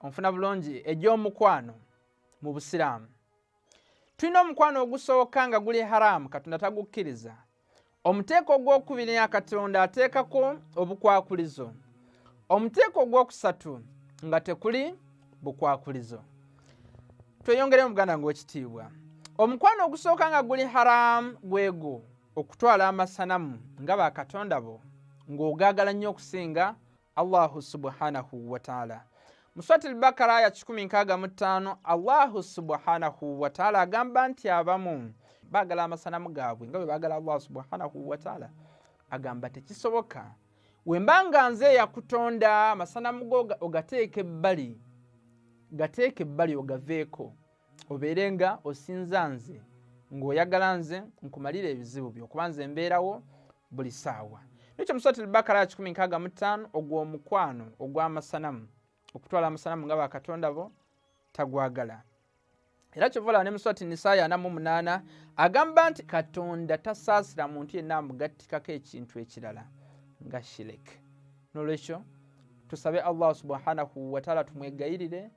onfuna bulungi egy'omukwano mu busiraamu tulina omukwano ogusooka nga guli haraamu katonda tagukkiriza omuteeko ogw'okubiri nga katonda ateekako obukwakulizo omuteeko ogw'okusatu nga tekuli bukwakulizo tweyongere muganda ngaekitiibwa omukwano ogusooka nga guli haraamu gwegwo okutwala amasanamu nga bakatonda bo ng'ogaagala nnyo okusinga allahu subhanahu wataala mu swati lbakara aya 165 allahu subhanahu wataala agamba nti abamu bagala amasanamu gaabwe nga bwe bagala allahu subhanahu wataala agamba tekisoboka wemba nga nze eyakutonda amasanamu go ogateeka ebbali gateeka ebbali ogaveeko obeere nga osinza nze ng'oyagala nze nkumalira ebizibu byo kuba nze mbeerawo buli saawa nekyo musati lbakara ya kikumi nkaaga mu ttaano ogw'omukwano ogw'amasanamu okutwala amasanamu nga bakatonda bo tagwagala era kyovala ne muswati nisayi ana mu munaana agamba nti katonda tasaasira muntu yenna amugattikako ekintu ekirala nga shirek nolwekyo tusabe allah subhanahu wataala tumwegayirire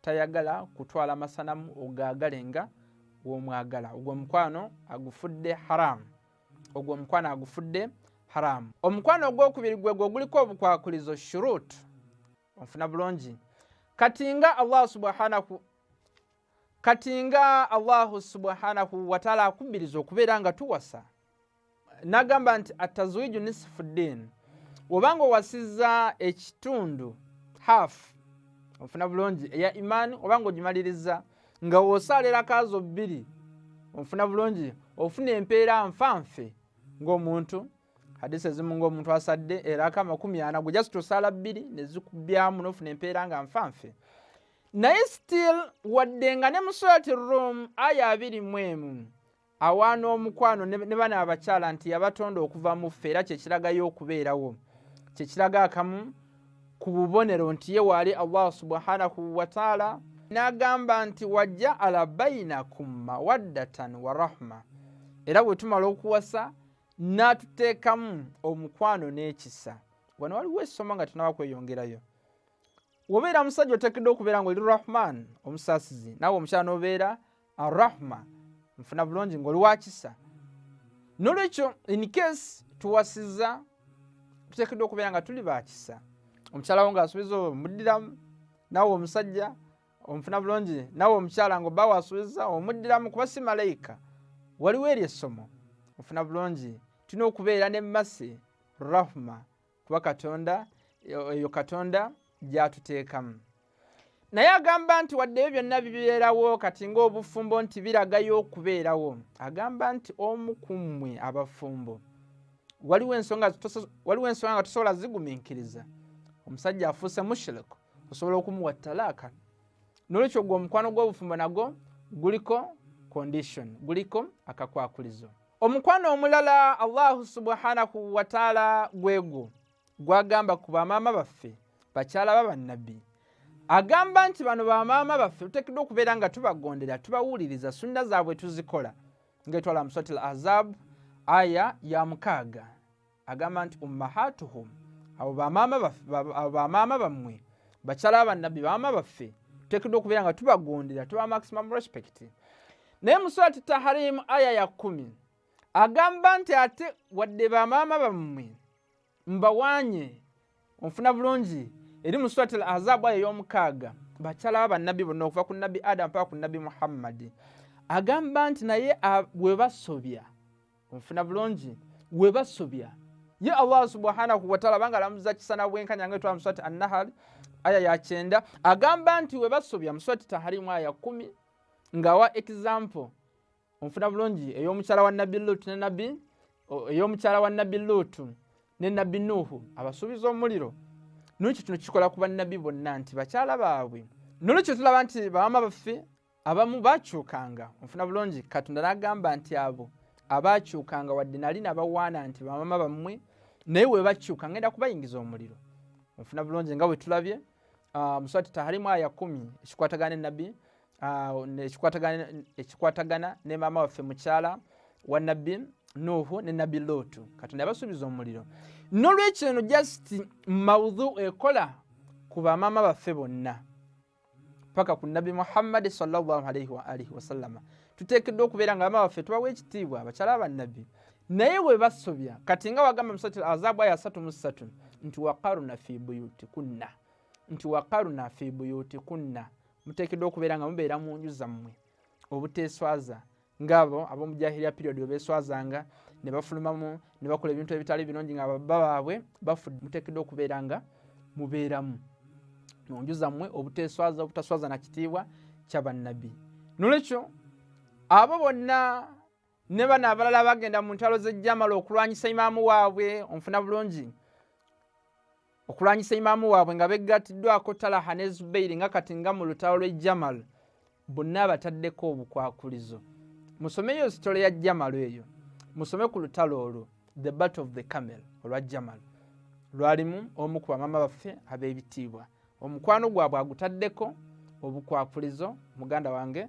tayagala kutwala masanamu ogagalenga gwomwagala ogwo omukwano agufudde haramu ogwo omukwano agufudde haramu omukwano ogwokubiri gwe gwe guliko obukwakulizo shurut onfuna bulungi kati nga allah subhanahu kati nga allahu subhanahu wataala akubbiriza okubeera nga tuwasa nagamba nti atazwiju nisifu ddiini wobanga owasiza ekitundu half ofuna bulungi eya imaani obanga ogimaliriza nga wosaalira kaazo bbiri ofuna bulungi ofuna empeera nfanfe ng'omuntu hadisi ezimu ng'omuntu asadde eraka amakumi ana gwe just osaala bbiri nezikubyamu nofuna empeera nga nfanfe naye still wadde nga ne musulati room aya abiri mu emu awaana omukwano ne bana abakyala nti yabatonda okuva mu ffe era kyekiragayo okubeerawo kyekiraga akamu ku bubonero nti ye waali allah subhanahu wataala n'agamba nti wajaala bainakum mawaddatan wa rahma era bwe tumala okuwasa n'atuteekamu omukwano n'ekisa wano waliwo essomo nga tunaba kweyongerayo wobeera musajja otekedde okubeera nga oli rahman omusaasizi naawe omukyala nobeera arahma nfuna bulungi ngaoli wakisa nolwekyo in case tuwasiza tutekeddwa okubeera nga tuli bakisa omukyala wo ngaasubiza omuddiramu nawe omusajja omufuna bulungi nawe omukyala nga oba wasubiza omuddiramu kuba si malayika waliwo eryo essomo ofuna bulungi tulina okubeera ne masi rahma kuba katonda eyo katonda gyatuteekamu naye agamba nti wadde ebyo byonna bibeerawo kati ng'obufumbo nti biragayo okubeerawo agamba nti omu ku mmwe abafumbo waliwo ensonga nga tosobola zigumiikiriza omusajja afuuse mushiriku osobola okumuwa talaaka nolwekyo gwe omukwano gw'obufumbo nagwo guliko condition guliko akakwakulizo omukwano omulala allahu subhanahu wataala gwegwo gwagamba ku bamaama baffe bakyala ba bannabbi agamba nti bano bamaama baffe tutekeddwa okubeera nga tubagondera tubawuliriza sunna zaabwe tuzikola ngaetwala muswati l azabu aya ya mukaaga agamba nti ummahatuhum abo bamaama bammwe bakyala bannabbi bamaama baffe tuteekeddwa okubeera nga tubagondera tuba maximum respect naye mu surati taharimu aya ya kumi agamba nti ate wadde bamaama bammwe mbawanye onfuna bulungi eri mu surati al azabu aya ey'omukaaga bakyala ba bannabbi bonna okuva ku nabbi adamu paka ku nabbi muhammadi agamba nti naye bwe basobya onfuna bulungi webasobya ye allah subhanahu wataala banga alamuza kisana bwenkanya nga etwala muswati annahali aya yakyenda agamba nti webasobya muswati taharimu aya kumi ngawa example onfuna bulungi eyomukyala wa nabbi lutu ne nabbi eyomukyala wa nabbi lutu ne nabbi nuhu abasuubiza omuliro nolwekyo kino kikola ku bannabbi bonna nti bakyala baabwe nolwekyo tulaba nti bawama baffe abamu bakyukanga onfuna bulungi katonda nagamba nti abo abakyukanga wadde nali nabawaana nti bamama bammwe naye webakyuka ngenda kubayingiza omuliro onfuna bulungi nga wetulabye ah, muswati taharimu aya kumi ekikwatagana enabbi ah, ekikwatagana ne maama waffe mukyala wa nabbi nuhu ne nabbi lootu katonda yabasuubiza omuliro nolwekyo eno just maudhu ekola ku bamaama baffe bonna paka ku nabbi muhammadi salllahalaihi waalihi wasallama tuteekeddwa okubeera nga bama baffe tubawa ekitiibwa abakyala bannabbi naye bwe basobya kati nga wagamba musati azaabu aya asatu mu ssatu nti wakaruna fi buyuti kunna nti wakaruna fi buyuti kunna muteekeddwa okubeera nga mubeera mu nju zammwe obuteeswaza ngabo ab'omu jahiliya period bwe beeswazanga ne bafulumamu ne bakola ebintu ebitali birungi nga baba baabwe bafudde muteekeddwa okubeera nga mubeeramu mu nju zammwe obuteeswaza obutaswaza na kitiibwa kya bannabbi nolwekyo abo bonna ne bano abalala bagenda mu ntalo z'ejjamala okulwanyisa imaamu waabwe onfuna bulungi okulwanyisa imaamu waabwe nga beggattiddwako talaha ne zubairi nga kati nga mu lutalo lwe jamal bonna abataddeko obukwakulizo musomeyo sitole ya jamal eyo musome ku lutalo olwo the bat of the camel olwa jamal lwalimu omu ku bamama baffe ab'ebitiibwa omukwano gwabwe agutaddeko obukwakulizo muganda wange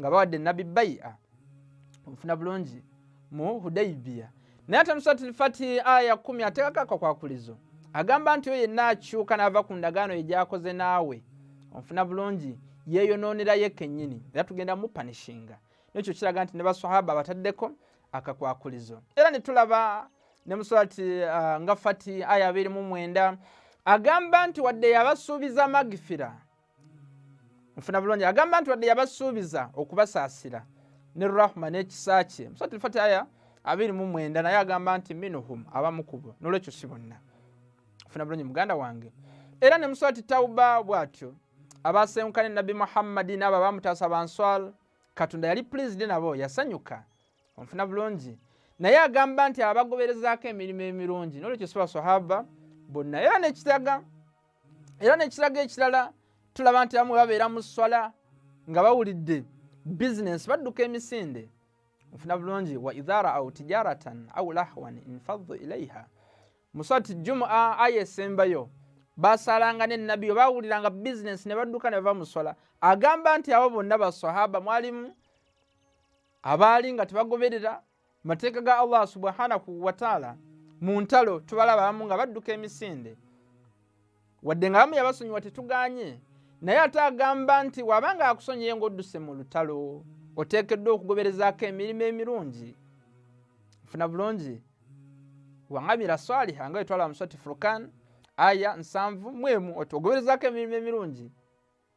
nga bawadde nabbi bai'a omufuna bulungi mu hudaibiya naye ate nusati lfatihi aya kumi ateekako akakwakulizo agamba nti oyo yenna akyuka n'ava ku ndagaano ye gyakoze naawe omufuna bulungi yeeyonoonera ye kennyini era tugenda mupanishinga nekyo kiraga nti ne basahaba abataddeko akakwakulizo era ne tulaba ne musulati uh, nga fati aya abiri mu mwenda agamba nti wadde yabasuubiza magifira nfuna bulungi agamba nti wadde yabasuubiza okubasaasira ne rahma n'ekisa kye musatulfati aya abiri mu mwenda naye agamba nti minuhum abamu kubo nolwekyo si bonna nfuna bulungi muganda wange era ne muswati tauba bw'atyo abaasewunkane nabbi muhammadi n'abo abamutaasa banswal katonda yali pulizidi nabo yasanyuka onfuna bulungi naye agamba nti abagoberezaako emirimu emirungi nolwekyo si baswahaba bonna era nekitaga era nekiraga ekirala tulaba nti abamu babeera mu swala nga bawulidde bizinensi badduka emisinde nfuna bulungi wa idha raau tijaratan au lahwan infaddu ilaiha muswati jumua aya esembayo basalanga ne nabbi we bawuliranga bizinensi ne badduka ne bava mu swala agamba nti abo bonna basahaba mwalimu abaali nga tebagoberera mateeka ga allah subhanahu wataala mu ntalo tubalaba abamu nga badduka emisinde wadde nga bamu yabasonyiwa tetuganye naye ate agamba nti waba nga akusonyiye ngaodduse mu lutalo oteekeddwa okugoberezaako emirimu emirungi funa bulungi waŋamira swaliha nga wetwala muswati furkan aya nsanvu mwemu otuogoberezaako emirimu emirungi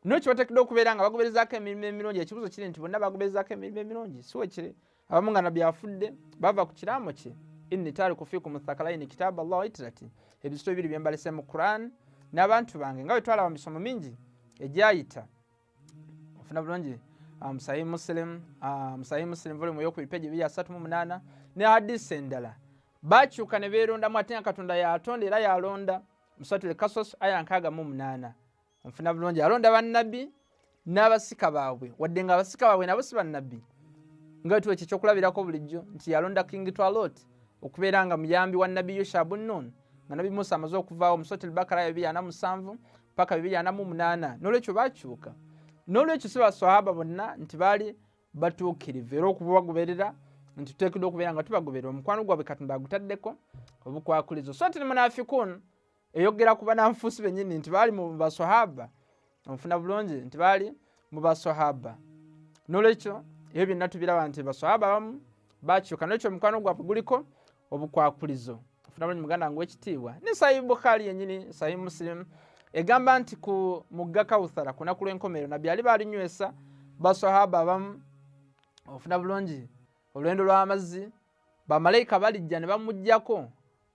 Noki batekedde okubeera nga bagoberezaako emirimu emirungi ekibuzo kiri nti bonna bagoberezaako emirimu emirungi siwe kiri abamu nga nabbi afudde bava ku kiraamo kye inni taariku fikum thakalaini kitabu allah waitirati ebizito bibiri bye mbalese mu quran n'abantu bange nga bwe twalaba mu misomo mingi egyayita ofuna bulungi ah, musahi muslim ah, musahi muslim volumu eyokubiri peji ebiri asatu mu munaana ne hadisi endala bakyuka ne beerondamu ate nga katonda yatonda era yalonda musatule kasos aya nkaaga mu munaana onfuna bulungi alonda bannabbi n'abasika baabwe wadde nga abasika baabwe nabo si bannabbi nga wetuwa ekyo ekyokulabirako bulijjo nti yalonda king twalot okubeera nga muyambi wa nabbi yushabu nun nga nabbi musa amaze okuvaawo musoti lbakara ya bibiri ana musanvu paka bibiri ana mu munaana n'olwekyo bakyuka n'olwekyo si baswahaba bonna nti baali batuukirivu era okubagoberera nti tuteekedwa okubeera nga tubagoberera omukwano gwabwe katonda agutaddeko obukwakulizo so ti lmunafikun eyogera ku bananfuusi bennyini nti baali mu baswahaba onfuna bulungi nti baali mu baswahaba nolwekyo ebyo byonna tubiraba nti baswahaba abamu bakyuka nolwekyo omukwano gwaffe guliko obukwakulizo ofuna bulungi muganda nga ekitiibwa ne sahibu bukhari yennyini sahibu musilimu egamba nti ku mugga kawuthara ku naku lw'enkomerero nabbi ali baalinywesa baswahaba abamu ofuna bulungi olwendo lw'amazzi bamalaika balijja ne bamugjako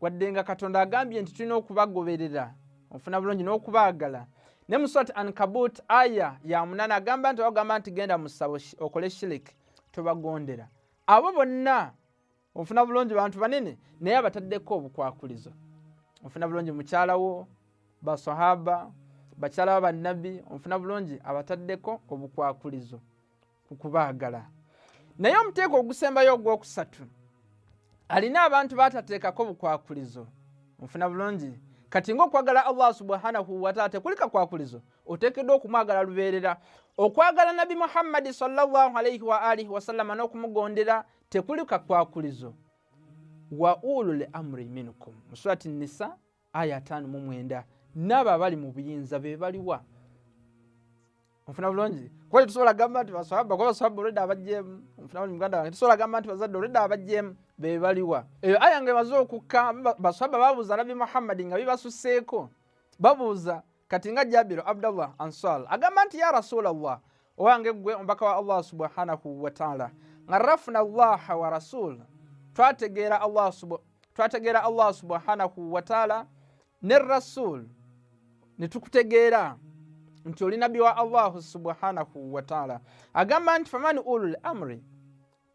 wadde nga katonda agambye nti tulina okubagoberera ofuna bulungi n'okubaagala ne mu surat ankabut aya ya munana agamba nti wagamba nti genda mu ssabo okole shirik tobagondera abo bonna ofuna bulungi bantu banene naye abataddeko obukwakulizo ofuna bulungi mukyalawo basahaba bakyala ba bannabbi ofuna bulungi abataddeko obukwakulizo ku kubaagala naye omuteeko ogusembayo ogwokusatu alina abantu batateekako bukwakulizo nfuna bulungi kati ngaokwagala allah subhanahu wataala tekuli kakwakulizo oteekeddwa okumwagala lubeerera okwagala nabbi muhammadi salllahalaihi waalihi wasallama n'okumugondera tekuli kakwakulizo wa ulul amri minkum musurati nisa aya ataano mu mwenda naabo abali mu buyinza be baliwa onfuna bulungi kuba tetusobola gamba nti baswaba kuba baswaba olwedda abajjeemu onfuna bulungi muganda wange tetusobola gamba nti bazadde olwedda abajjeemu be baliwa eyo aya nga emaze okukka baswaba babuuza nabbi muhammadi nga bibasusseeko babuuza kati nga jabiru abdallah answal agamba nti ya rasulallah owange ggwe omubaka wa allah subhanahu wataala nga rafuna llaha wa rasul twategeera allah twategeera allah subhanahu wataala ne rasul ne tukutegeera nti oli nabbi wa allahu subhanahu wataala agamba nti famani ulul amri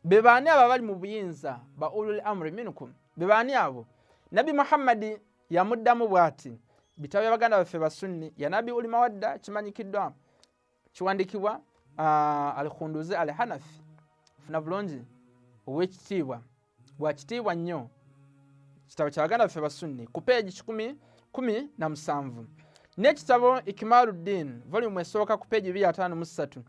be baani abo abali mu buyinza ba ulul amri minkum be baani abo nabbi muhammadi yamuddamu bw'ati bitabo bya baganda baffe basunni yanabi uli mawadda kimanyikiddwa kiwandikibwa ah, al khunduzi al hanafi funa bulungi owekitiibwa bwakitiibwa nnyo kitabo kya baganda baffe basunni ku peegi kikumi kumi na musanvu n'ekitabo ikimaluddin volume esooka ku peegi bibiri ataano mu ssatu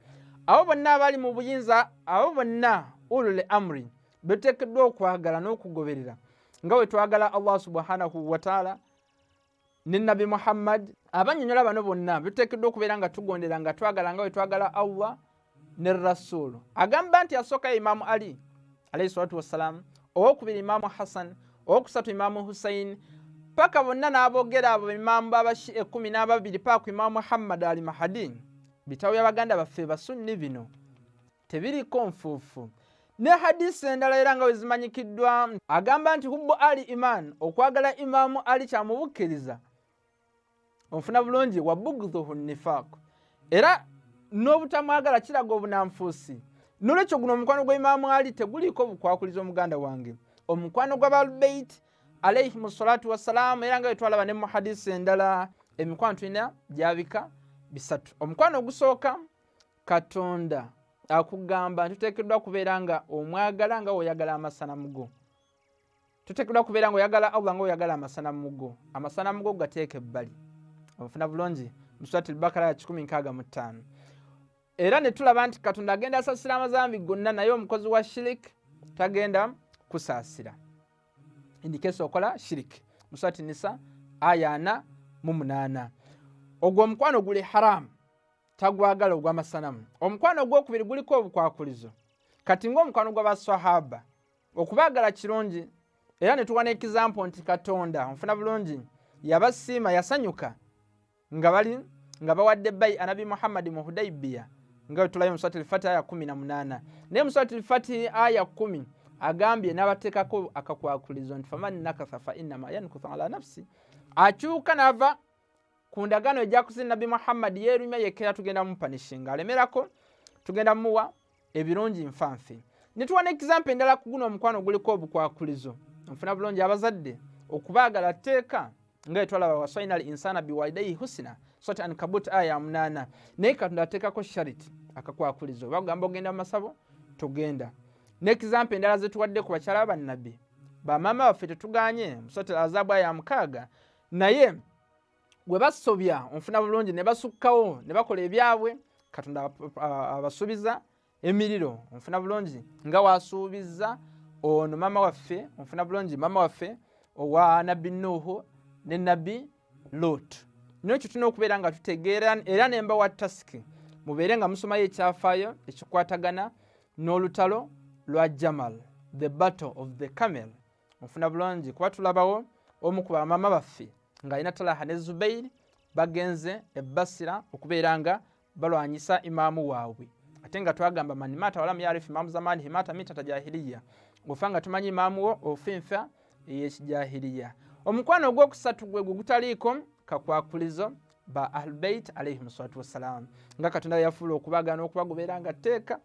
abo bonna abali mu buyinza abo bonna ulule amri betuteekeddwa okwagala n'okugoberera nga bwe twagala allah subhanahu wataala ne nabi muhammad abanyonyola bano bonna bituteekeddwa okubeera nga tugondera nga twagala nga wetwagala allah ne rasulu agamba nti asooka imaamu ali alaihi salatu wassalaamu owokubiri imaamu hassan owokusatu imaamu hussein paka bonna n'abogera abo imaamu babashi ekumi n'ababiri paaku imaamu muhammad ali mahadi bitabo by'abaganda baffe basunni bino tebiriko nfuufu ne hadisi endala era nga wezimanyikiddwa agamba nti hubbu ali iman okwagala imaamu ali kyamubukkiriza onfuna bulungi wabugdhuhu nifaq era n'obutamwagala kiraga obunanfuusi nolwekyo guno omukwano gwa imaamu ali teguliiko bukwakuliza omuganda wange omukwano gw'abalubeit alaihim salatu wassalaamu era nga wetwalaba ne mu hadisi endala emikwano tulina gyabika bisatu omukwano ogusooka katonda akugamba nti tuteekeddwa kubeera nga omwagala nga oyagala amasanamu go tuteekeddwa kubeera nga oyagala allah nga oyagala amasanamu go amasanamu go gateeka ebbali obufuna bulungi musurat lbakara ya 165 era ne tulaba nti katonda agenda asasira amazambi gonna naye omukozi wa shirik tagenda kusaasira indikesi okola shirik musurat nisa aya 4 mu 8 ogwo omukwano guli haramu tagwagala ogw'amasanamu omukwano ogwokubiri guliko obukwakulizo kati ng'omukwano gw'abaswahaba okubaagala kirungi era ne tuwa n'ekizampo nti katonda onfuna bulungi yabasiima yasanyuka nga bali nga bawadde bayi anabi muhammadi mu hudaibiya nga wetulayo mu swati lfati aya kumi na munaana naye mu swati lfati aya kumi agambye n'abateekako akakwakulizo nti faman nakatha fa innama yankusa ala nafsi akyuka n'ava ku ndagaano ejakuze nabbi muhammadi yeerumya yekkera tugenda mupanishinga alemerako tugenda muwa ebirungi nfanfe netuwa ne example endala ku guno omukwano guliko obukwakulizo nfuna bulungi abazadde okubaagala tteeka nga etwalaba wasaina al insana biwalidaihi husina sot an kabut aya munaana naye katonda ateekako shariti akakwakulizo oba kugamba ogenda mu masabo togenda ne example endala zetuwadde ku bakyala bannabbi bamaama baffe tetuganye musot al azabu aya mukaaga naye gwe basobya onfuna bulungi ne basukkawo ne bakola ebyabwe katonda abasuubiza emiriro onfuna bulungi nga wasuubiza ono maama waffe onfuna bulungi maama waffe owa nabbi nuuhu ne nabbi lot nekyo tulina okubeera nga tutegeera era nemba wa tasiki mubeere nga musomayo ekyafaayo ekikwatagana n'olutalo lwa jamal the battle of the camel mufuna bulungi kuba tulabawo omu ku bamama baffe ng'alina talaha ne zubairi bagenze ebbasira okubeera nga balwanyisa imaamu waabwe ate nga twagamba mani mata walamu yarifu imaamu zamani himata mita tajahiliya ofa nga tumanyi imaamu wo ofa enfa eyekijahiliya omukwano ogwokusatu gwe gwe gutaliiko kakwakulizo ba ahlubeit alaihim salatu wassalamu nga katonda yafuula okubagana okubagobeera nga tteeka